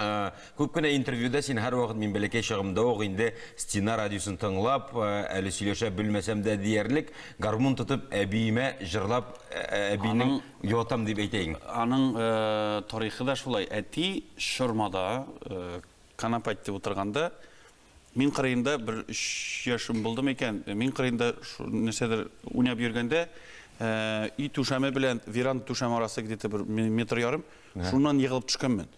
Э, күп кенә интервьюда син һәрвакыт мин бәләкәй чагымда ук инде стена радиосын тыңлап э, әле сөйләшә белмәсәм дә диярлек гармун тотып әбиемә җырлап э, әбинең ятам дип әйтәйең аның тарихы да шулай әти шормада канапә итеп утырганда Мин кырыенда бер өч яшем булды микән, мин кырыенда нәрсәдер уйнап йөргәндә, өй түшәме белән веранда түшәм арасы где-то бер метр ярым, шуннан егылып төшкәнмен.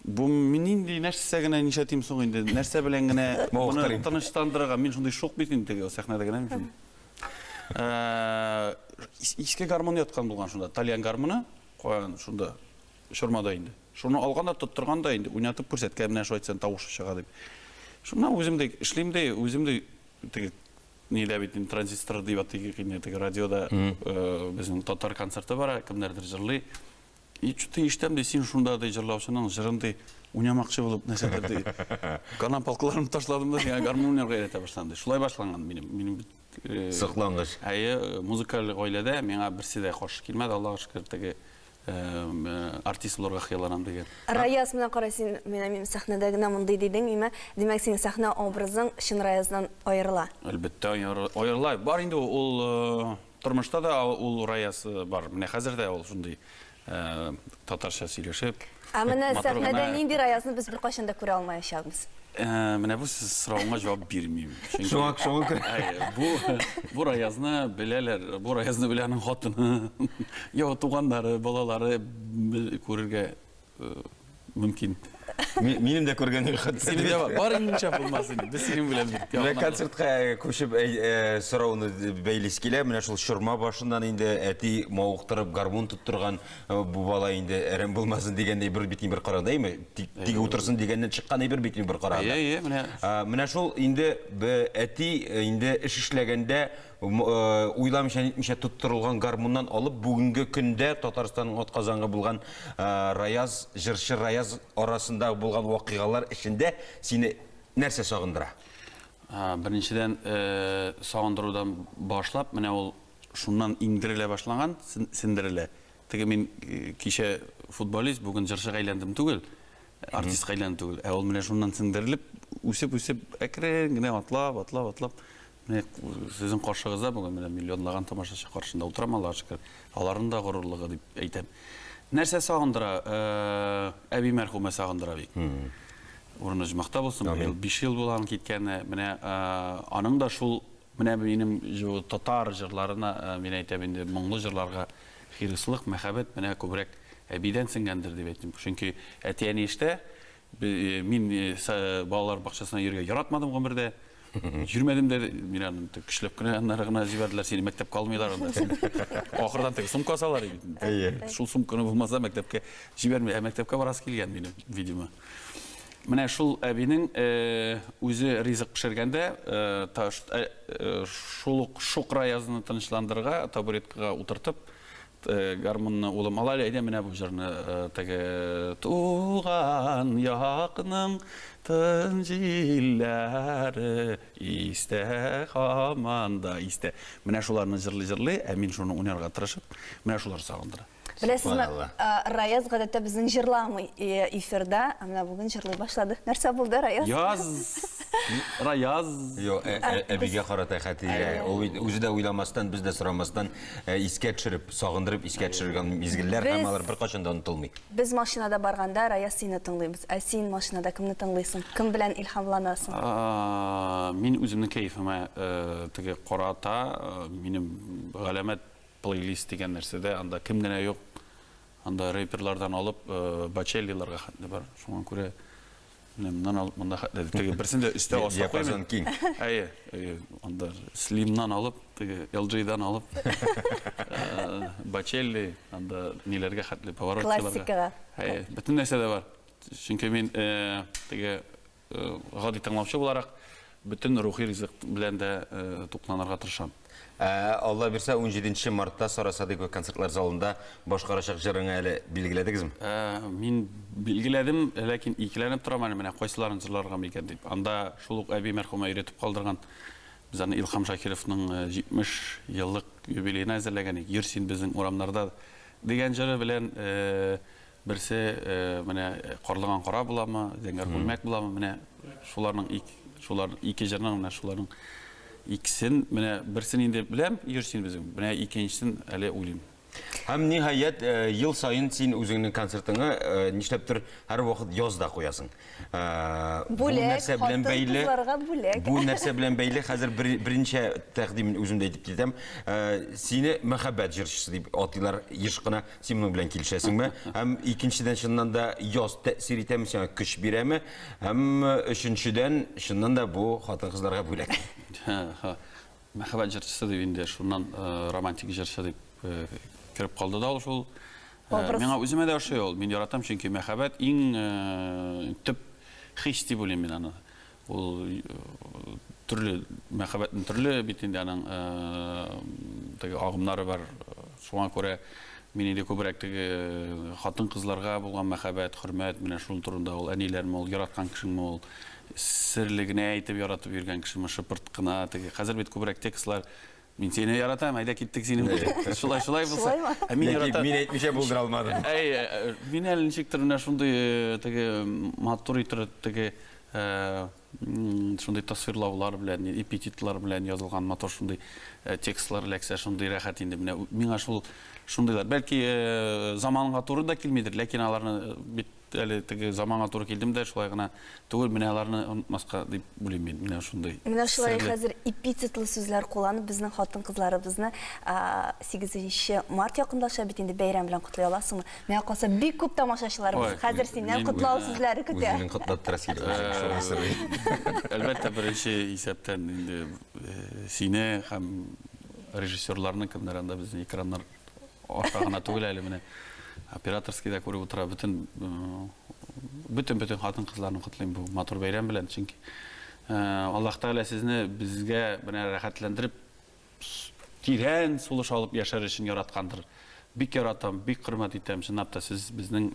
Бу мин нинди нәрсә генә нишләтим соң инде, нәрсә белән генә моны тынычландырырга, мин шундый шук бит инде теге сәхнәдә генә мин шундый. Иске гармун яткан булган шунда, тальян гармуны, каян шунда. чорма да инде. Шуны алган да, тоттырган да инде, уйнатып күрсәткән, менә шулай итсәң тавышы чыга дип. Шуннан үзем дә эшлим дә, үзем дә теге нидә бит инде транзистор дип атыйк инде теге радиода э, безнең татар концерты бара, кемнәрдер җырлый. И что-то ишетәм ди, син шунда ди җырлаучының җырын ди уйнамакчы булып нәрсәдер ди. Канам палкаларымны ташладым да, сиңа гармун уйнарга өйрәтә башладым ди. Шулай башланган минем. Минем бит э, Соклангыч. Әйе, музыкаль гаиләдә миңа берсе дә каршы килмәде, Аллага шөкер, теге артист булырга хыялланам дигән. Раяз, менә кара син, менә мин сәхнәдә генә мондый дидең, имә. Димәк, синең сәхнә образың чын Раяздан аерыла. Әлбәттә, аерыла. Бар инде ул тормышта да ул Раяз бар. Менә хәзер дә ул шундый татарча сөйләшеп. Ә менә сәхнәдә нинди Раязны без беркайчан да күрә алмаячакбыз? Менә бу соравыңа җавап бирмим. Шуңа күрә. Бу бу Раязны беләләр, бу Раязны белә аның хатыны, йә туганнары, балалары күрергә мөмкин. Минем дә күргәнем хәтта. Синең дә бар инде булмас инде. Без синең белән бик якын. Менә концертка күчеп сорауны бәйлисе килә. Менә шул чорма башыннан инде әти мавыктырып гармун тоттырган Э, бу бала инде әрәм булмасын дигән әйбер бит бер караганда әйме тик утырсын дигәннән чыккан әйбер бит бер караганда әйе әйе менә менә шул инде әти э, инде эш эшләгәндә э, уйламыйча нитмичә тоттырылган гармуннан алып бүгенге көндә татарстанның атказангы булган раяз җырчы раяз арасында булган вакыйгалар эчендә сине нәрсә сагындыра беренчедән сагындырудан башлап менә ул Шуннан иңдерелә башлаган, сендерелә. Теге мин кичә футболист, бүген җырчыга әйләндем түгел, артистка әйләндем түгел. Ә ул менә шуннан сендерелеп, үсеп-үсеп, әкрен генә атлап, атлап, атлап, менә сезнең каршыгызда бүген менә миллионлаган тамашачы каршында утырам, Аллага шөкер. Аларның да горурлыгы дип әйтәм. Нәрсә сагындыра? Әби мәрхүмә сагындыра бик. Урыны җмахта булсын, быел биш ел була аның киткәненә. Менә аның да шул Менә минем татар җырларына, мин әйтәм инде, моңлы җырларга хирыслык, мәхәббәт менә күбрәк әбидән сеңгәндер дип әйтим. Чөнки әти-әни эштә, мин балалар бакчасына йөрергә яратмадым гомердә. Йөрмәдем дә, мин аны көчләп кенә аннары гына җибәрделәр, сине мәктәпкә алмыйлар анда. Ахырдан теге сумка салар иде. Әйе. Шул сумканы булмаса мәктәпкә җибәрми, ә мәктәпкә барасы килгән минем, видимо. Менә шул әбинең үзе ризык пешергәндә, шул ук Шукраязны тынычландырырга, табуреткага утыртып, гармунны, улым, ал әле, әйдә менә бу җырны, теге, Туган якның тын җилләре истә һаман да истә. Менә шуларны җырлый-җырлый, ә мин шуны уйнарга тырышып, менә шулар сагындыра. Беләсезме, Раяз гадәттә безнең җырламый эфирда, ә менә бүген җырлый башлады. Нәрсә булды, Раяз? Яз! Раяз! Йо, әбигә карата хәтигә. Ул бит үзе дә уйламастан, без дә сорамастан искә төшереп, сагындырып искә төшергән мизгелләр һәм алар беркайчан да онытылмый. Без машинада барганда Раяз сине тыңлыйбыз. Ә син машинада кемне тыңлыйсың? Кем белән илһамланасың? Мин үземнең кәефемә теге карата, минем галәмәт Плейлист дигән нәрсәдә анда кем генә юк, анда рэперлардан алып бачеллиларга хәтле бар. Шуңа күрә менә моннан алып монда хәтле теге берсен дә өстә аска диапазон киң. Әйе, анда слимнан алып, теге LG-дан алып бачелли, анда ниләргә хәтле поворотчыларга. Классикага. Әйе, бөтен нәрсә дә бар. Чөнки мин теге гади тыңлаучы буларак, бөтен рухи ризык белән дә тукланырга тырышам. Ә, Алла бирсә, 17 мартта Сара Садыйкова концертлар залында башкарачак җырыңа әле билгеләдегезме? Ә, мин билгеләдем, ләкин икеләнеп торам әле менә кайсыларын җырларга микән дип. Анда шул ук әби мәрхүмә өйрәтеп калдырган без аны Илхам Шакировның 70 еллык юбилеена әзерләгән идек. Йөр син безнең урамнарда дигән җыры белән Берсе менә Карлыган кара буламы, Зәңгәр күлмәк буламы, менә шуларның ик, шулар ике җырның менә шуларның икесен, менә берсен инде беләм, йөрсин безнең. Менә икенчесен әле уйлыйм. Һәм ниһаять, ел саен син үзеңнең концертыңа нишләптер һәрвакыт яз да куясың. Бүләк, хатын-кызларга бүләк. Бу нәрсә белән бәйле? Хәзер беренче тәкъдимен үзем дә әйтеп китәм. Сине мәхәббәт җырчысы дип атыйлар еш кына. Син моның белән килешәсеңме? Һәм икенчедән, чыннан да яз тәэсир итәме, сиңа көч бирәме? Һәм өченчедән, чыннан да бу хатын-кызларга бүләк. Мәхәббәт җырчысы дип инде шуннан романтик җырчы дип кереп калды да ул шул. Миңа үземә дә ошый ул. Мин яратам, чөнки мәхәббәт иң төп хис дип уйлыйм мин аны. Ул төрле мәхәббәтнең төрле бит инде аның теге агымнары бар. Шуңа күрә мин инде күбрәк теге хатын-кызларга булган мәхәббәт, хөрмәт, менә шул турында ул әниләрме ул, яраткан кешеңме ул? Серле генә әйтеп яратып йөргән кешеме, шыпырт кына теге. Хәзер бит күбрәк текстлар Мин сине яратам, әйдә киттек синең белән. Шулай, шулай булса. Ә мин яратам. Мин әйтмичә булдыра алмадым. Әй, мин әле ничектер менә шундый э, теге матур итер теге э, шундый тасвирлаулар белән, эпитетлар белән язылган матур шундый э, текстлар эләксә, шундый рәхәт инде. Менә миңа шул шундыйлар. Бәлки заманга туры да килмидер, ләкин аларны бит Әле теге заманга туры килдем дә, шулай гына түгел, менә аларны онытмаска дип уйлыйм мин, менә шундый. Менә шулай хәзер эпитетлы сүзләр кулланып, безнең хатын-кызларыбызны 8 март якынлаша бит инде, бәйрәм белән котлый аласыңмы? Миңа калса, бик күп тамашачыларыбыз хәзер синнән котлау сүзләре көтә. Үзенең котлап торасы килде, үзенең шуны сорый. Әлбәттә, беренче исәптән инде сине һәм режиссерларны, кемнәр анда безнең экраннар аша гына түгел әле менә операторский да күреп утыра бөтен бөтен бөтен хатын кызларны котлыйм бу матур бәйрәм белән чөнки аллаһ тәгалә сезне безгә менә рәхәтләндереп тирән сулыш алып яшәр өчен яраткандыр бик яратам бик хөрмәт итәм чынлап та сез безнең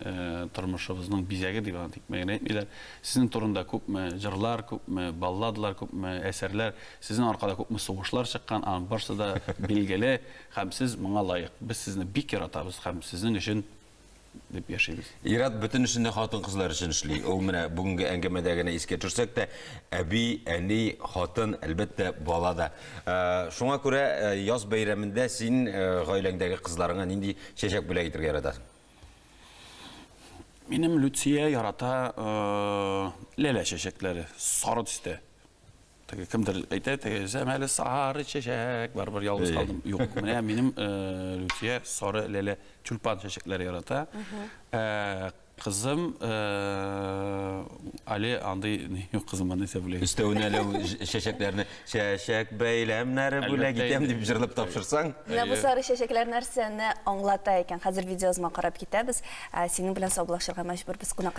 тормышыбызның бизәге дип аны тик мәгәнә әйтмиләр сезнең турында күпме җырлар күпме балладалар күпме әсәрләр сезнең аркада күпме сугышлар чыккан аның барысы да билгеле Һәм сез моңа лаек. Без сезне бик яратабыз һәм сезнең өчен дип яшибез. Ир-ат бөтен эшен дә хатын-кызлар өчен эшли. Ул менә бүгенге әңгәмәдә генә искә төшсәк тә, әби, әни, хатын, әлбәттә, бала да. Ә, шуңа күрә ә, яз бәйрәмендә син ә, гаиләңдәге кызларыңа нинди чәчәк бүләк итергә яратасың? Минем Люция ярата ә, ләлә чәчәкләре, сары төстә. Теге кемдер әйтә, теге сәмәле сары чәчәк, барыбер ялгыз калдым. Юк, менә минем э, Люция сары ләлә тюльпан чәчәкләре ярата. Э, Кызым э, әле андый ни юк кызым аны исә бүләк. Өстәвенә әле ул ж- чәчәкләрне чәчәк бәйләмнәре бүләк Әлбәттә итәм инде. дип җырлап тапшырсаң. Менә бу сары чәчәкләр нәрсәне аңлата икән. Хәзер видеоязма карап китәбез. Ә, Синең белән саубуллашырга мәҗбүрбез. Кунакка